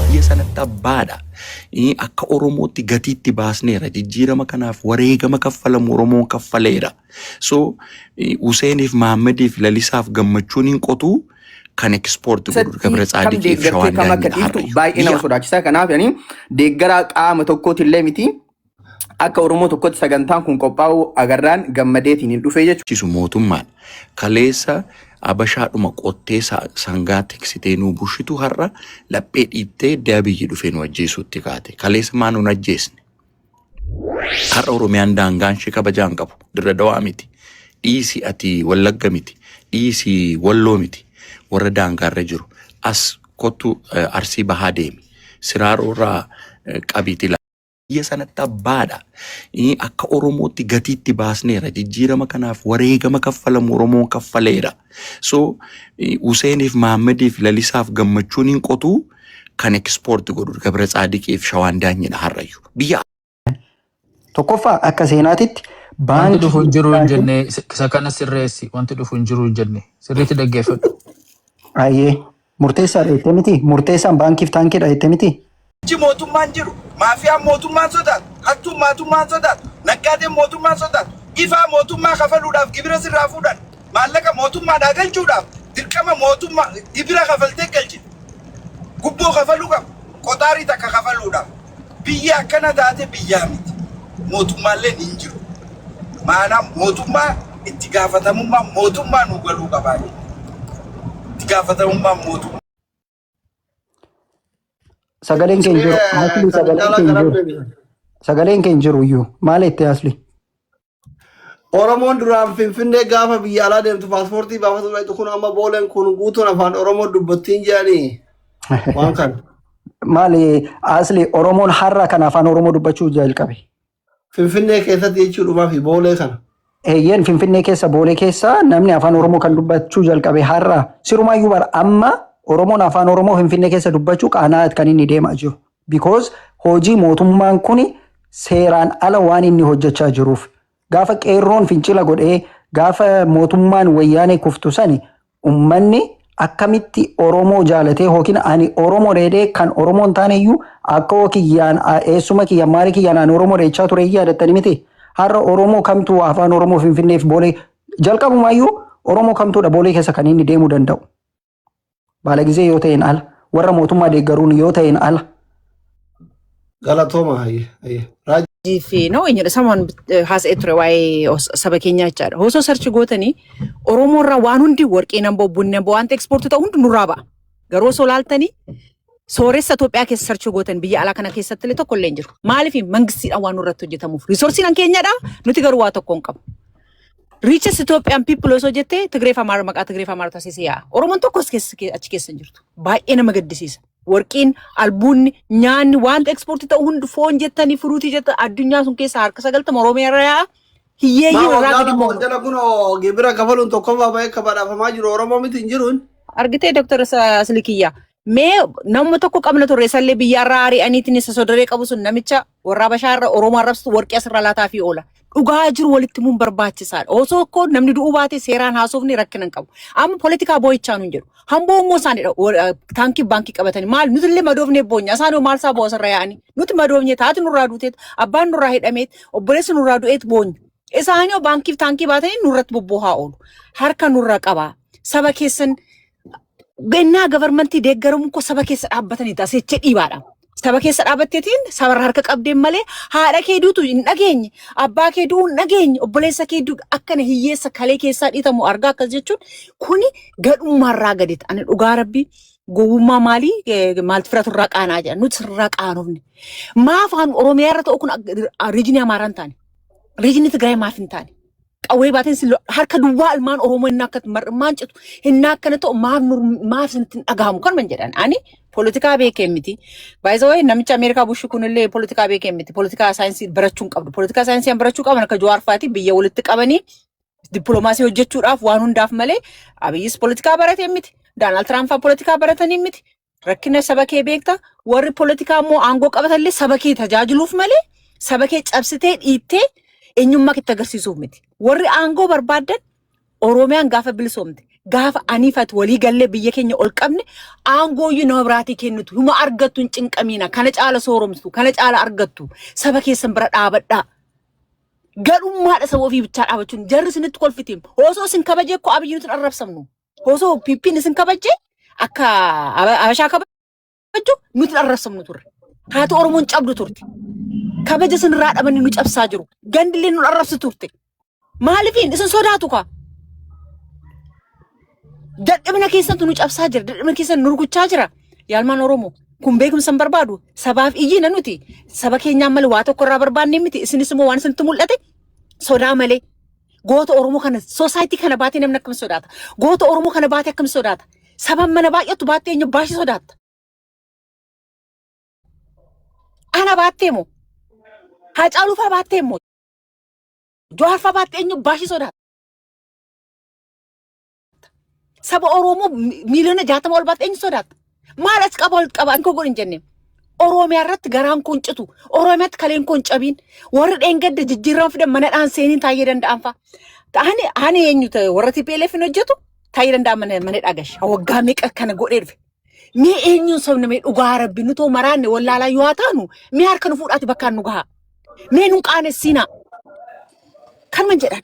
biyya sanatti abbaadha. Eh, Akka Oromootti gatiitti baasneera. Jijjiirama kanaaf wareegama kaffalamu Oromoon kaffaleera. So, eh, Huseeniif, Mahaammadiif, Lalisaaf gammachuun hin qotu kan ekspoorti godhu Keessatti Gabra kam Tsaadiqiif deeggartee Shawaan kam akka Daangaa dhiiftu Harargee. baay'ee nama Biyya sodaachisaa kanaaf yani deeggaraa qaama tokkootillee miti akka Oromoo tokkotti sagantaan kun qophaa'uu agarraan gammadeetiin hin dhufee jechuudha. Cisu mootummaan kaleessa abashaadhuma qottee sa- sangaa tiksitee nuu bushitu har'a laphee dhiittee edda abiyyi dhufee nu ajjeesuutti kaate. Kaleessa maa nun ajjeesne? Har'a Oromiyaan daangaan ishee kabajaa hin qabu. Dirra dawaa miti. Dhiisi ati wallagga miti. Dhiisi walloo miti. Warra daangaarra jiru. As kottu eh, arsii bahaa deemi. Siraaroo irraa eh, qabiiti biyya sanatti abbaadha. Eh, Akka Oromootti gatiitti baasneera. Jijjiirama kanaaf wareegama kaffalamu Oromoon kaffaleera. So eh, Huseeniif Mahaammadiif Lalisaaf gammachuun hin qotu kan ekspoorti godhu Gabra Tsaadiqiif Shawaan Daanyidha har'ayyu. Biyya Tokkoffaa akka seenaatitti Wanti baankii dhufu hin jiru hin Itoophiyaa jenne isa kana sirreessi. Wanti dhufu hin jiru hin jenne. Sirriitti dhaggeeffadhu. Ayyee. Murteessaadha jettee miti? Murteessaan baankiif taankiidha jettee miti? Iji mootummaan jiru, maafiyaan mootummaan sodaatu, hattuun maatummaan sodaatu, naggaadeen mootummaan sodaatu, ifaa mootummaa kafaluudhaaf gibira sirraa fuudhan, maallaqa mootummaadhaa galchuudhaaf dirqama mootummaa gibira kafaltee galchite, gubboo kafaluu qabda, qoxaarii takka kafaluudhaaf. Biyyi akkana taate biyyaa miti. Mootummaalleen hin jiru. Maanaa mootummaa itti gaafatamummaan mootummaa nuu galuu qabaa jenna. Itti gaafatamummaan mootummaa. Sagaleen kee hin jiru. Asli sagaleen kee hin jiru. Sagaleen kee hin jiru iyyuu. Maal jettee asli? Oromoon duraan Finfinnee gaafa biyya alaa deemtu paaspoortii baafatu dhaqxu kun amma booleen kun guutuun afaan Oromoo dubbattiin jedhanii waan kana. Maali asli Oromoon har'a kan afaan Oromoo dubbachuu jalqabe. Finfinnee keessatti jechuudhumaa fi boolee kana. Eeyyeen Finfinnee keessa boolee keessa namni afaan Oromoo kan dubbachuu jalqabe har'a. Sirumaayyuu bara amma Oromoon afaan Oromoo Finfinnee keessa dubbachuu qaanaa kan inni deemaa jiru. Because hojii mootummaan kuni seeraan ala waan inni hojjachaa jiruuf. Gaafa qeerroon fincila godhee gaafa mootummaan wayyaanee kuftu sani ummanni akkamitti Oromoo jaalatee hookin ani Oromo dheedhee kan Oromoo hin taane iyyuu akkoo kiyyaan eessuma kiyya maali kiyyaan ani Oromoo dheechaa ture yaadattani miti. Har'a Oromoo kamtuu afaan Oromoo Finfinneef boolee jalqabumaa iyyuu Oromoo kamtuudha boolee keessa kan inni deemuu danda'u. Baalagizee yoo ta'een ala. Warra mootummaa deeggaruun yoo ta'een ala. Galatooma hayyee hayyee. Raajii. fi no eenyudha samoon haasa'ee ture waa'ee os- saba keenyaa jechaadha. Osoo sarchi gootanii Oromoo irraa waan hundi warqii nan bo'o bunni nan bo'o wanta ekspoortii ta'u hundi nurraa ba'a. Garuu osoo laaltanii Sooressa Itoophiyaa keessa sarchuu gootan biyya alaa kana keessatti illee tokko illee hin jiru. Maaliif mangistiidhaan waan nurratti hojjetamuuf. Riisorsiin kan keenyadha. Nuti garuu waa tokko hin qabu. Riiches Itoophiyaan people osoo jettee Tigree fi Amaara maqaa Tigree fi Amaara taasisee yaa'a. Oromoon tokko as keessa achi keessa hin jirtu. Baay'ee nama gaddisiisa. Warqiin, albuunni, nyaanni, wanta ekspoortii ta'u hundi foon jettanii, furuutii jettanii addunyaa sun keessaa harka sagaltama Oromiyaa irra yaa'a. Hiyyeeyyii Maa irraa waggaa gadi lama ol bu'u. jala kun gibira kafaluun tokkoffaa bahee akka badhaafamaa jiru Oromoo miti hin jiruun. Argitee Dooktar Silikiyyaa. Mee namuma tokko qabna turre sallee biyyaarraa ari'aniitiin isa sodaree qabu sun namicha warraa bashaarra Oromoo arrabsitu warqii asirraa laataa fi oola. Dhugaa jiru walitti muun barbaachisaadha. Osoo koo namni du'uu baate seeraan haasofni rakkina hin qabu. Amma politikaa boo'ichaa nuun jedhu. Hamboo immoo isaanidha. Wa- Taankii baankii qabatanii maal nuti illee madoofnee boonya isaan hoo maal isaa boosa irra yaa'anii nuti madoofnee taati nurraa duuteet abbaan nurraa hidhameet obboleessi nurraa du'eet boonya isaanii hoo baankiif taankii baatanii nurratti bobboohaa oolu harka nurra qabaa saba keessan gannaa gabarmantii deeggaramuun koo saba keessa dhaabbatanii taasicha dhiibaadha. Saba keessa dhaabatteetiin sabarra harka qabdeen malee haadha kee duutu hin dhageenye, abbaa kee du'uu hin dhageenye, obboleessa kee du'u akkana hiyyeessa kalee keessaa dhiitamu argaa akkas jechuun kuni gadhummaarraa gadita. Ani dhugaa rabbii gowwummaa maalii eh, maaltu firatu irraa qaanaa jedha. Nuti irraa qaanofne. Maa afaan Oromiyaa irra ta'u kun riijinii Amaaraa hin taane. Riijinii Tigraay maaf hin taane. qawwee baateen si lo- harka duwwaa ilmaan Oromoo inni akka mar'immaan citu inni akkana ta'u maaf nur- maaf isinitti hin dhagahamu kan man jedhan ani poolitikaa beekee miti. Baay'isawee namicha Ameerikaa Bushii kunillee poolitikaa beekee miti. Poolitikaa saayinsii barachuu hin qabdu. Poolitikaa saayinsii kan barachuu qaban akka Jawaar fa'aatii biyya walitti qabanii dippiloomaasii hojjechuudhaaf waan hundaaf malee Abiyyis poolitikaa baratee miti. Daanaald Tiraamp fa'aa poolitikaa baratanii miti. Rakkina saba kee beekta warri politikaa immoo aangoo qabatallee saba kee tajaajiluuf malee saba kee cabsitee dhiittee eenyummaa kee itti agarsiisuuf miti. Warri aangoo barbaadan Oromiyaan gaafa bilisoomte gaafa aniifat walii gallee biyya keenya ol qabne aangooyyuu nama biraatii kennitu huma argattu hin cinqamiina kana caala sooromtu kana caala argattu saba keessan bira dhaabadhaa. Gadhummaadha saba ofii bichaa dhaabachuun jarri isinitti kolfitiim osoo isin kabaje koo abiyyi nuti hin arrabsamnu Osoo PP'n isin kabajje akka Aba- Abashaa kabajju nuti dharrassamnu turre. Haati Oromoon cabdu turte. Kabaja isin irraa dhabanii nu cabsaa jiru. Gandillee nu dharrabsi turte. Maalifiin isin sodaatu kaa? Dadhabina keessantu nu cabsaa jira. Dadhabina keessan nu rukuchaa jira. Yaalmaan Oromoo kun beekumsa hin barbaadu. Sabaaf iyyina nuti. Saba keenyaan malee waa tokko irraa barbaannee miti. Isinis immoo waan isinitti mul'ate sodaa malee Goota Oromoo kana soosaayitii kana baatee namni akkam sodaata? Goota Oromoo kana baatee akkam sodaata? Saban mana baay'atu baattee eenyu baay'ee sodaatta? Ana baattee moo? Haacaaluu fa'aa baattee moo? Jawaar fa'aa baattee eenyu baay'ee sodaatta? Saba Oromoo mi- miiliyoona jaatama ol baate eenyu sodaata? Maal as qaba ol qaba hin kogoon hin jenne. Oromiyaa irratti garaan kun citu. Oromiyaatti kaleen kun cabiin. Warri dheengadda jijjiirama fidan mana dhaan seeniin taa'ee danda'an fa'a. Ani ani eenyu ta'e warra TPLF hin hojjetu taa'ee danda'an mana mana dhagashi. Waggaa meeqa kana godhee dhufe. Mee eenyuun sabni mee dhugaa rabbi nutoo maraanne wallaalaa yoo haa taanu mee harka nu fuudhaati bakkaan nu gahaa. Mee nun qaanessiinaa. Kanuma jedhan.